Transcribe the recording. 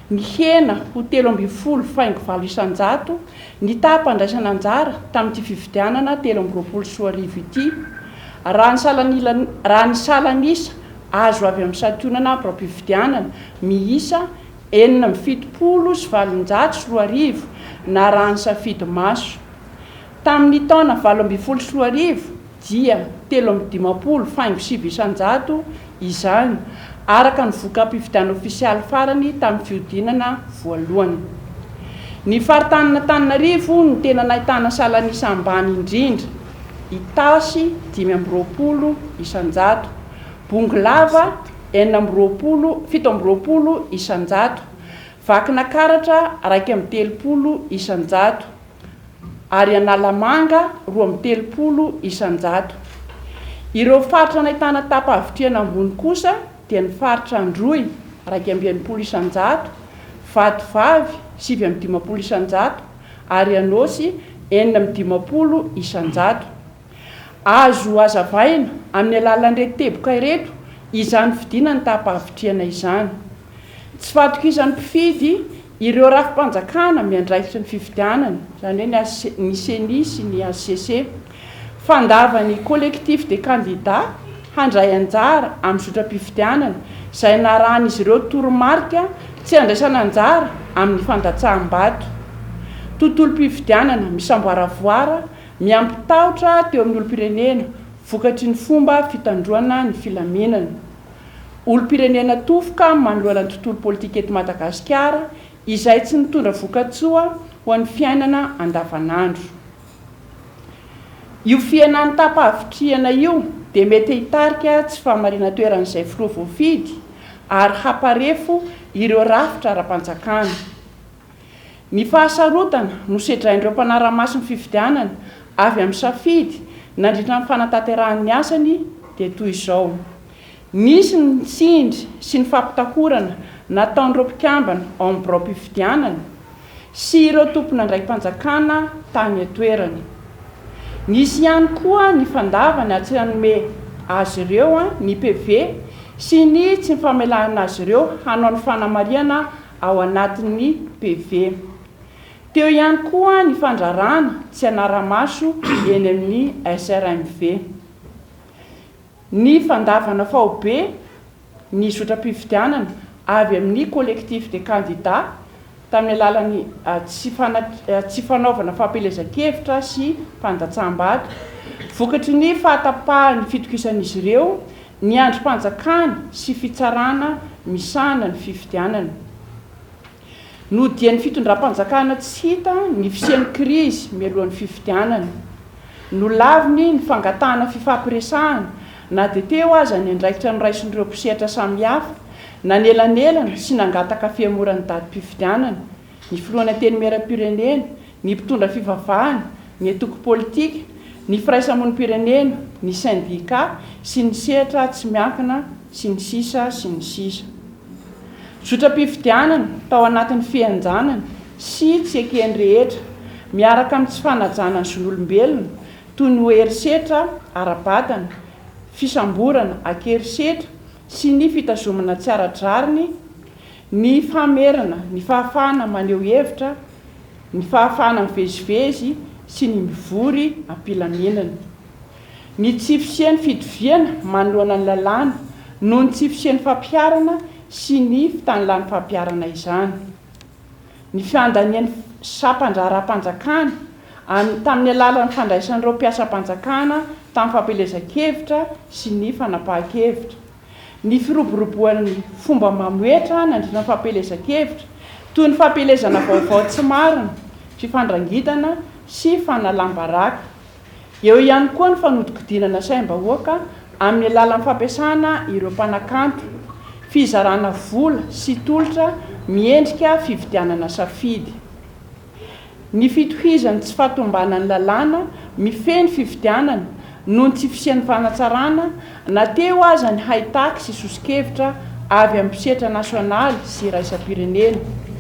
Nihena ho telo ambin'ny folo faingo valo isan-jato ny taham-pandraisana anjara tamin'ity fifidianana telo amby roapolo sy roa arivo ity, raha ny salanila raha ny salan'isa azo avy amin'ny santionana ampiram-pifidianana miisa enina amby fitopolo sy valonjato sy roa arivo na raha ny safidy maso. Tamin'ny taona valo ambin'ny folo sy roa arivo dia telo amby dimampolo faingo sivy isan-jato izany, araka ny voka-pifidianana ofisialy farany tamin'ny fihodinana voalohany. Ny faritanin'Antananarivo no tena nahitana salan'isa ambany indrindra, Itasy dimy amby roapolo isan-jato, Bongolava enina amby roapolo, fito amby roapolo isan-jato, Vakinakaratra raika amby telopolo isan-jato, ary Analamanga roa amby telopolo isan-jato. Ireo faritra nahitana tapa-havitrihana ambony kosa dia ny faritra Androy, iraika amby enimpolo isan-jato, Vatovavy, sivy amby dimampolo isan-jato, ary Anôsy, enina amby dimampolo isan-jato. Azo hazavaina amin'ny alalan'ireto teboka ireto izany fidina ny taham-pahavitrihana izany. Tsy fahatokizan'ny mpifidy ireo rafi-panjakana miandraikitra ny fifidianana, izany hoe ny ny Ceni sy ny hcc. Fandavan'ny Collectif des candidats handray anjara amin'ny zotram-pifidianana izay narahan'izy ireo toromarika tsy handraisana anjara amin'ny fandatsaham-bato. Tontolom-pifidianana misamboaravoara Miampy tahotra teo amin'ny olom-pirenena vokatry ny fomba fitandroana ny filaminana. Olom-pirenena tofoka manoloana ny tontolo politika eto Madagasikara izay tsy mitondra vokatsoa ho an'ny fiainana andavanandro. Io fihenan'ny tapa-havitrihana io dia mety hitarika tsy fahamarinan-toeran'izay filoha voafidy ary hamparefo ireo rafitra ara-panjakana. Ny fahasarotana nosedrain'ireo mpanara-maso ny fifidianana avy amin'ny safidy nandritra ny fanatanterahany ny asany dia toy izao, nisy ny tsindry sy ny fampitahorana nataon'ireo mpikambana ao amin'ny biraom-pifidianana sy ireo tomponandraiki-panjakana tany an-toerana. Nisy ihany koa ny fandavana tsy nanome azy ireo ny PV sy ny tsy famelana azy ireo hanao ny fanamarihana ao anatin'ny PV. Teo ihany koa ny fandraràna tsy hanara-maso eny amin'ny SRMV, ny fandàvana faobe ny zotram-pifidianana avy amin'ny collectif des candidats tamin'ny alalan'ny tsy fanaovana fampielezan-kevitra sy fandatsaham-bato vokatry ny fahatapahan'ny fitokisan'izy ireo Ny andrim-panjakana sy fitsarana misahana ny fifidianana. Nodian'ny fitondram-panjakana tsy hita ny fisian'ny krizy mialohan'ny fifidianana. Nolaviny ny fangatahana fifampiresahana na dia teo aza ny andraikitra noraisin'ireo mpisehatra samihafa nanelanelana sy nangataka fihemoran'ny datim-pifidianana ny Filohan'ny Antenimierampirenena, ny mpitondra fivavahana, ny antoko politika, ny firaisamonim-pirenena, ny sendika sy ny sehatra tsy miankina sy ny sisa sy ny sisa. Zotram-pifidianana tao anatin'ny fihenjanana sy tsy eken'ny rehetra miaraka amin'ny tsy fanajana ny zon'olombelona toy ny ho herisetra ara-batana, fisamborana ankerisetra sy ny fitazomana tsy ara-drariny Ny famerana ny fahafahana maneho hevitra, ny fahafahana mivezivezy sy ny mivory am-pilaminana. Ny tsy fisian'ny fitoviana manoloana ny lalàna noho ny tsy fisian'ny fampiharana sy ny fitanilàn'ny fampiharana izany. Ny fiandanian'ny sampan-draharaham-panjakana an tamin'ny alalan'ny fandraisan'ireo mpiasam-panjakana tamin'ny fampielezan-kevitra sy ny fanapahan-kevitra. ny firoboroboan'ny fomba mamoetra nandritra ny fampielezan-kevitra, toy ny fampielezana vaovao tsy marina, fifandrangitana sy fanalam-baraka. Eo ihany koa ny fanodinkodinana saim-bahoaka amin'ny alalan'ny fampiasana ireo mpanakanto, fizarana vola sy tolotra miendrika fividianana safidy. Ny fitohizan'ny tsy fahatombanan'ny lalàna mifehy ny fifidianana noho ny tsy fisian'ny fanatsarana na teo aza ny haitaky sy soso-kevitra avy amin'ny mpisetra nasionaly sy iraisam-pirenena.